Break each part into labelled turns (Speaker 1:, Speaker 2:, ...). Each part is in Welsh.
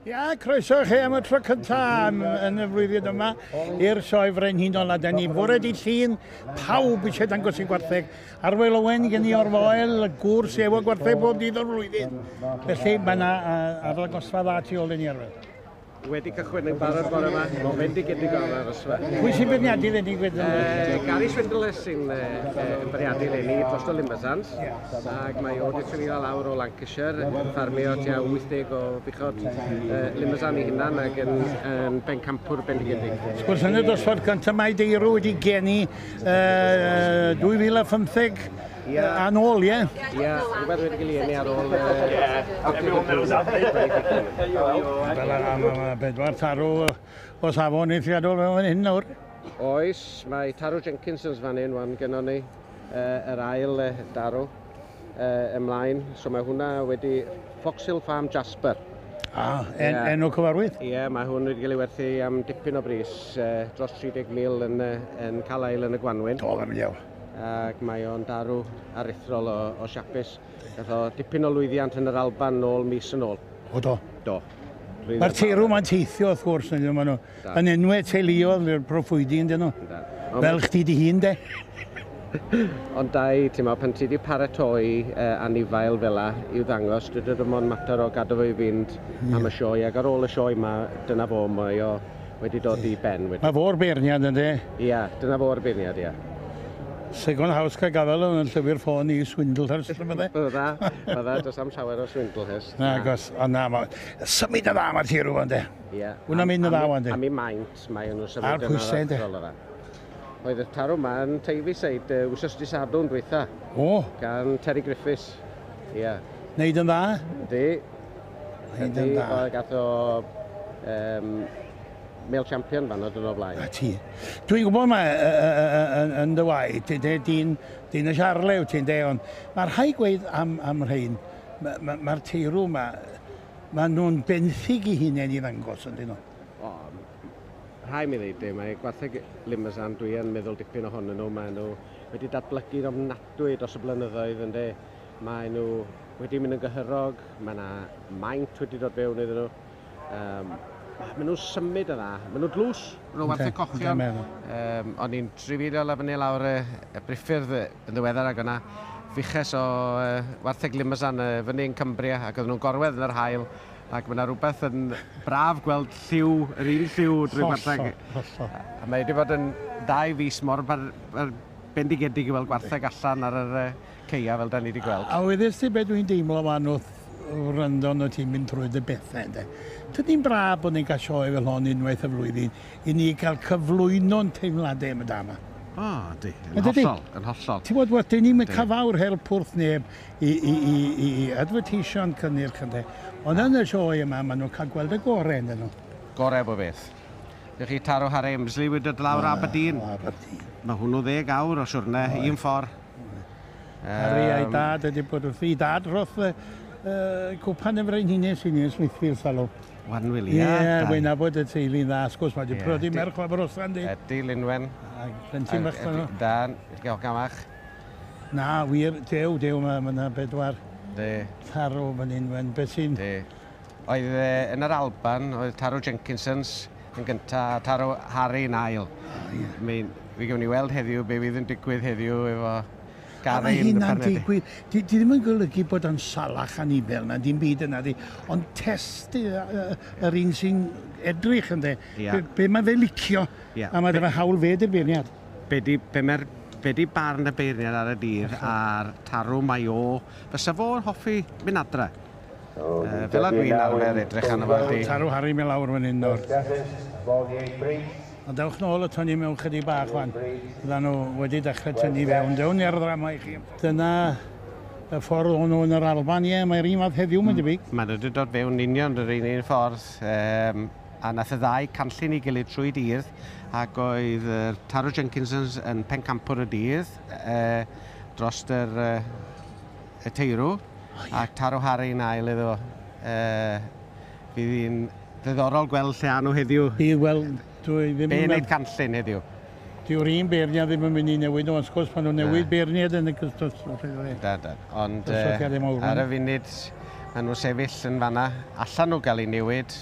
Speaker 1: Ia, croeso chi am y tro cyntaf yn, yn y flwyddyn yma i'r sioe frenhinol a da ni bore di llun pawb eisiau dangos i gwartheg. Arwel Owen gen i o'r foel, y gŵr sy'n efo gwartheg bob dydd o'r flwyddyn. Felly mae yna uh, arddangosfa dda tu ôl i ni arwel. Wedi cychwyn
Speaker 2: yn barod bore yma, mae'n fendigedig o arosfa. Pwy sy'n beirniadu
Speaker 1: lenni gwedyn? Uh, Gary Swindle
Speaker 2: sy'n uh, yn beirniadu lenni dros y Limbersans, ac mae o wedi trefio lawr o Lancashire, yn ffarmio tua 80 o buchod uh, Limbersan i hunan ac yn, yn bencampwr bendigedig. Sgwrs yn y dosbarth
Speaker 1: cyntaf mae Deirw wedi geni uh, 2015 Ia. A nôl, ie? Ia, rhywbeth wedi
Speaker 2: cael ei eni ar ôl... Ie, everyone knows
Speaker 1: that Fel a ma' ma' bedwar tarw o safon eithriadol fel fan hyn nawr. Oes,
Speaker 2: mae tarw Jenkinsons fan hyn wan gennon ni uh, yr ail uh, darw uh, ymlaen. So mae hwnna wedi Foxhill Farm Jasper. Ah, en, yeah.
Speaker 1: enw cyfarwydd? Ie, yeah, mae hwn wedi cael ei
Speaker 2: werthu am dipyn o bris, uh, dros 30,000 yn, uh, yn Calail yn y Gwanwyn. Do, fe mynd iawn.
Speaker 1: ac mae o'n
Speaker 2: darw aruthrol o, o siapus. Gath o dipyn o lwyddiant yn yr Alban nôl mis yn ôl. O do? Do. Mae'r teirw
Speaker 1: mae'n teithio, wrth gwrs, yn nhw. Yn enwau teuluodd, i'r proffwydi yn dyn nhw. Fel chdi di hun, de.
Speaker 2: Ond da i, ti'n meddwl, pan ti wedi paratoi uh, anifail fel la i'w ddangos, dydw ddim ond mater o gadw fo i fynd mm. am y sioe, ac ar ôl y sioe yma, dyna fo, mae o wedi dod i ben wedi... Mae fo'r beirniad
Speaker 1: ynddi? Ia, dyna fo'r
Speaker 2: beirniad, ia. Second
Speaker 1: house cael gafel yn llyfr ffôn i Swindlehurst neu bydde? Bydda, bydda,
Speaker 2: does am llawer o Swindlehurst. Na, gos, a na,
Speaker 1: ma... Symud yn dda mae'r tir rwan de. Ia. Wna mynd yn
Speaker 2: dda wan de.
Speaker 1: Am i maint, mae
Speaker 2: nhw'n symud yn dda. A'r pwysau de. Oedd y tarw ma yn Teifisaid uh, wsos di Sadwrn dwytha. O! Gan
Speaker 1: Terry
Speaker 2: Griffiths. Ia. Yeah. Neud yn dda?
Speaker 1: Ydy.
Speaker 2: Neud
Speaker 1: yn dda. Oedd gath o...
Speaker 2: Um, male champion fan oedd yn o blaen. A ti. Dwi'n gwybod
Speaker 1: mae yn dy waed, ti'n de, dyn, dyn y siarlew, ti'n de, ond mae'r rhai gweud am, am rhain, mae'r ma, ma teirw yma, maen nhw'n benthyg i hunain i ddangos, yn dyn nhw. O,
Speaker 2: rhai mi ddeud dim, mae gwartheg Limousin, dwi yn meddwl dipyn ohonyn nhw, maen nhw wedi datblygu'n ofnadwy dros y blynyddoedd ynde. Maen nhw wedi mynd yn gyhyrog, mae yna maint wedi dod fewn iddyn nhw. Um, maen nhw'n symud yn dda, maen nhw'n dlws, maen nhw'n wartheg cochion. Um, o'n i'n trifilio lefyn ni lawr y, y briffyrdd yn ddiweddar ac yna fiches o uh, wartheg Limousin uh, fyny yn Cumbria ac oedden nhw'n gorwedd yn yr hael ac mae yna rhywbeth yn braf gweld lliw, yr un lliw drwy gwartheg. Hollol, hollol. A mae wedi bod yn dau fus mor bar, bar bendigedig i weld gwartheg allan ar yr ceia fel da ni wedi gweld. A, a wedys ti beth dwi'n
Speaker 1: deimlo fan wrth wrando nhw ti'n mynd trwy dy bethau ynddo. Tydi'n braf bod ni'n cael sioe fel hon unwaith y flwyddyn i ni cael cyflwyno'n teimladau am y da yma. O, ydy, yn
Speaker 2: hollol, yn hollol. Ti'n bod, wel, dyn ni'n
Speaker 1: cael fawr help wrth neb. i, i, i, i advertisio'n cynnyrch ynde. Ond yn y sioe yma, maen nhw'n cael gweld y gorau yn nhw. Gorau bo beth.
Speaker 2: Dych chi taro har Emsley wedi dod lawr Aberdeen. Aberdeen. Mae hwnnw ddeg awr o siwrne, un ffordd. Harry
Speaker 1: um, a'i dad wedi bod wrth i dad roth uh, cwpan yn frenhines i ni yn Smithfield Salw. Wan Wili. Ie,
Speaker 2: yeah, wy'n abod y
Speaker 1: teulu'n dda, sgwrs mae wedi yeah. prodi merch o Abrosan di. Ydy, Linwen.
Speaker 2: Ac plentyn bach
Speaker 1: fan nhw. Dan, diolch
Speaker 2: gamach. Na,
Speaker 1: wir, dew, dew, mae ma yna bedwar De. taro
Speaker 2: fan hyn,
Speaker 1: wen, beth sy'n... De. Oedd
Speaker 2: e, yn yr Alban, oedd taro Jenkinsons yn gynta, a taro Harry yn ail. O, ie. Mae'n, fi gewn ni weld heddiw be fydd yn digwydd heddiw efo Gary Mae yn y hynna'n
Speaker 1: panedi. digwydd, di, di ddim yn golygu bod o'n salach anifel na dim byd yna, di, ond test y, y, yr un sy'n edrych, ynde, Ia. be, be mae fe licio, Ia. a mae Be- dyma hawl fe di'r beirniad. Be di, be mae'r,
Speaker 2: be di barn y beirniad ar y dydd a'r tarw mae o, fysa fo'n hoffi mynd adre? Yy, fel a dwi'n arfer edrych arno fo ydi. Tarw Harri mi lawr fan
Speaker 1: hyn nawr. A dewch nôl ato ni mewn chydig bach wan. Fydda nhw wedi dechrau tynnu i fewn. Dewn ni ar y ddrama i chi. Dyna y ffordd o'n nhw yn yr Alban, ie, mae'r un fath heddiw mae'n debyg. Mae'n rhaid dod fewn
Speaker 2: union yr un un ffordd, yym, A nath y ddau canllun ei gilydd trwy dydd ac oedd Taro Jenkinsons yn pencampwr y dydd dros yr y teirw a Taro Harry yn ail iddo fo. Fydd hi'n ddiddorol gweld lle a nhw heddiw. Ie wel
Speaker 1: dwi ddim yn meddwl... Be wneud
Speaker 2: canllun heddiw? Dyw'r un
Speaker 1: beirniad ddim yn mynd i newid nhw ond wrth gwrs pan nhw'n newid beirniad yn y Da da
Speaker 2: ond ar y funud ma' nhw sefyll yn fan'na allan nhw gael eu newid.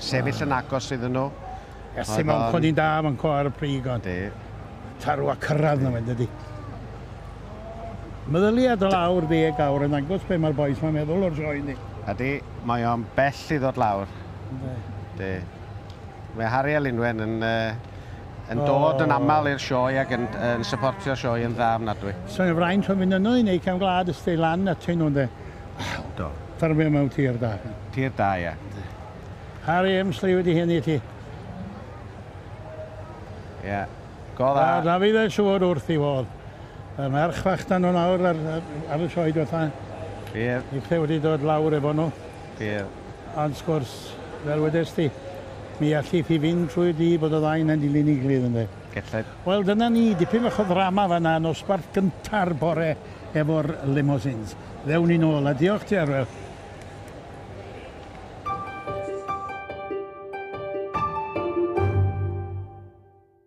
Speaker 2: sefyll yn agos iddyn nhw. Ers ti mewn
Speaker 1: codi'n da fan co ar y prig ond. Di. Tarw
Speaker 2: a
Speaker 1: cyrraedd na mae'n dydy. Meddyliad o lawr ddeg awr yn angos be mae'r boys mae'n meddwl o'r sioe ni. Ydy, mae o'n
Speaker 2: bell i ddod lawr. Ynddi. Di. Mae Harry a Linwen yn, uh, yn dod yn aml i'r sioe ac yn, yn supportio'r sioe yn dda ofnadwy. So'n y fraint o'n fynd
Speaker 1: yno i neu cefn glad ysdi lan at hyn nhw ynde. Do.
Speaker 2: Ffermio mewn tir
Speaker 1: da. Tir da, ia.
Speaker 2: Harri
Speaker 1: Emsley wedi hyn i ti.
Speaker 2: Ia. Go dda. A Dafydd ei
Speaker 1: siŵr wrth
Speaker 2: i
Speaker 1: fodd. Mae merch fach dan nhw'n awr ar, ar y sioed fatha. Bydd. Ni
Speaker 2: lle wedi dod
Speaker 1: lawr efo nhw. Bydd.
Speaker 2: Ond sgwrs,
Speaker 1: fel wedes ti, mi allith hi fynd trwy di bod y ddain yn dilyn i glyd ynddo. Gellai. Wel dyna
Speaker 2: ni,
Speaker 1: dipyn fach o ddrama fanna, nosbarth gynta'r bore efo'r limousines. Ddewn ni nôl a diolch ti Arwel.